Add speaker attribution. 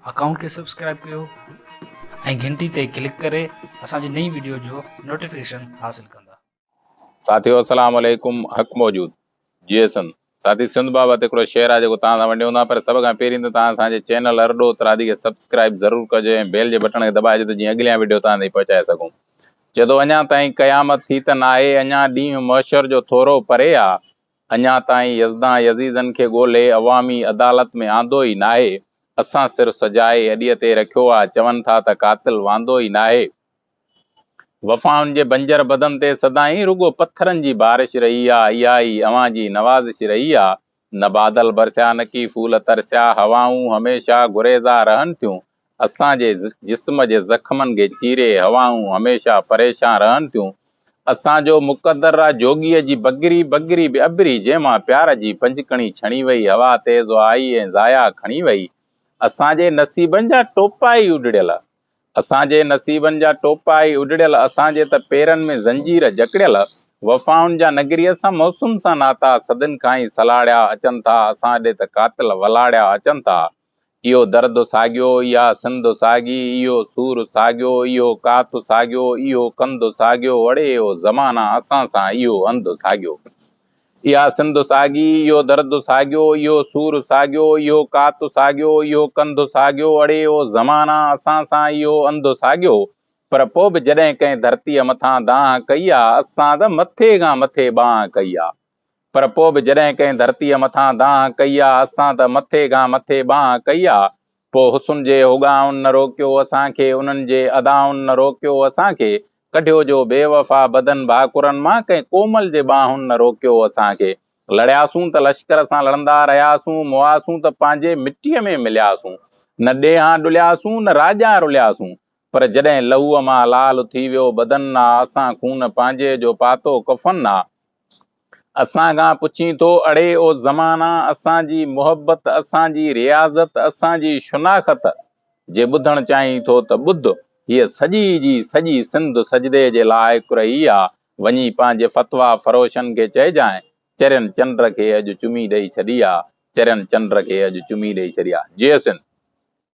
Speaker 1: Account کي subscribe ڪيو ۽ گهنٽي تي ڪلڪ ڪري اسان جي نئين ويڊيو جو نوٽيفڪيشن حاصل ڪندا. ساٿيو
Speaker 2: السلام عليڪم حق موجود جي ايسن ساٿي سنڌ بابت هڪڙو شعر آهي جيڪو توهان سان ونڊيون ٿا پر سڀ کان پهرين ته توهان اسان جي چينل ارڏو اترادي کي سبسڪرائب ضرور ڪجو ۽ بيل جي بٽڻ کي دٻائجو ته جيئن اڳليان وڊيو توهان تائين پهچائي سگهون چئي ٿو اڃان تائين قيامت ٿي ته ناهي اڃان ڏينهن محشر جو ٿورو پري آ اڃا تائين يزدان يزيدن کي ڳولهي عوامي عدالت ۾ آندو ئي ناهي، اسان صرف سجائي اڏيء تي رکيو آ، چون ٿا ته قاتل واندو ئي ناهي. وفائن جي بنجر بدن تي سدائين رڳو پٿرن جي بارش رهي آ، اها ئي اوهان جي نوازش رهي آ، نه بادل برسيا نه ڪي ڦول ترسيا، هوائون هميشه گريزا رهن ٿيون، اسان جي جسم جي زخمن کي چيري هوائون هميشه پريشان رهن ٿيون. اسان جو مقدره جوڳيء جي بگري بگري به اڀري، جنهن مان پيار جي پنجڪڻي ڇڻي وئي، هوا تيز آئي ۽ ضايع کڻي وئي. اسان جي نصيبن جا ٽوپا ئي اڏڙيل. اسان جي نصيبن جا ٽوپا ئي اڏڙيل، اسان جي ته پيرن ۾ زنجير جڪڙيل. وفائن جا نگري اسان موسم سان ناتا، صدين کان ئي سلاڙيا اچن ٿا، اسان ڏي ته قاتل ولاڙيا اچن ٿا. اهو درد ساڳيو، اها سنڌ ساڳي، اهو سور ساڳيو، اهو ڪات ساڳيو، اهو ڪنڌ ساڳيو، اڙي اهو زمانه اسان سان، اهو هنڌ ساڳيو. اها سنڌ ساڳي، اهو درد ساڳيو، اهو سور ساڳيو، اهو ڪات ساڳيو، اهو ڪنڌ ساڳيو، اڙي اهو زمانه اسان سان، اهو هنڌ ساڳيو. پر پوء به جڏهن ڪنهن ڌرتيء مٿان دانهن ڪئي آ، اسان ته مٿي کان مٿي بانهن ڪئي آ. پر پوء به جڏهن ڪنهن ڌرتيء مٿان دانهن ڪئي آ، اسان ته مٿي کان مٿي بانهن ڪئي آ. پوء حسن جي هوڳائن نه روڪيو اسان کي، انهن جي ادائن نه روڪيو اسان کي، ڪڍيو جو بي وفا بدن ڀاڪرن مان، ڪنهن ڪومل جي ٻانهن نه روڪيو اسان کي. لڙياسون ته لشڪر سان لڙندا رهياسون، موئاسون ته پنهنجي مٽيء ۾ ملياسون. نه ڏيهان ڏلياسون نه راڄان رلياسون، پر جڏهن لهوء مان لال ٿي ويو بدن آ، اسان خون پنهنجي جو پاتو ڪفن آ. اسان کان پڇين ٿو، اڙي او زمانا، اسان جي محبت، اسان جي رياضت، اسان جي شناخت، جي ٻڌڻ چاهين ٿو ته ٻڌ، هيء سڄي جي سڄي سنڌ سجدي جي لائق رهي آ، وڃي پنهنجي فتويٰ فروشن کي چئجانء، چرين چنڊ کي اڄ چمي ڏئي ڇڏي آ، چرين چنڊ کي اڄ چمي ڏئي ڇڏي آ. جئي سنڌ!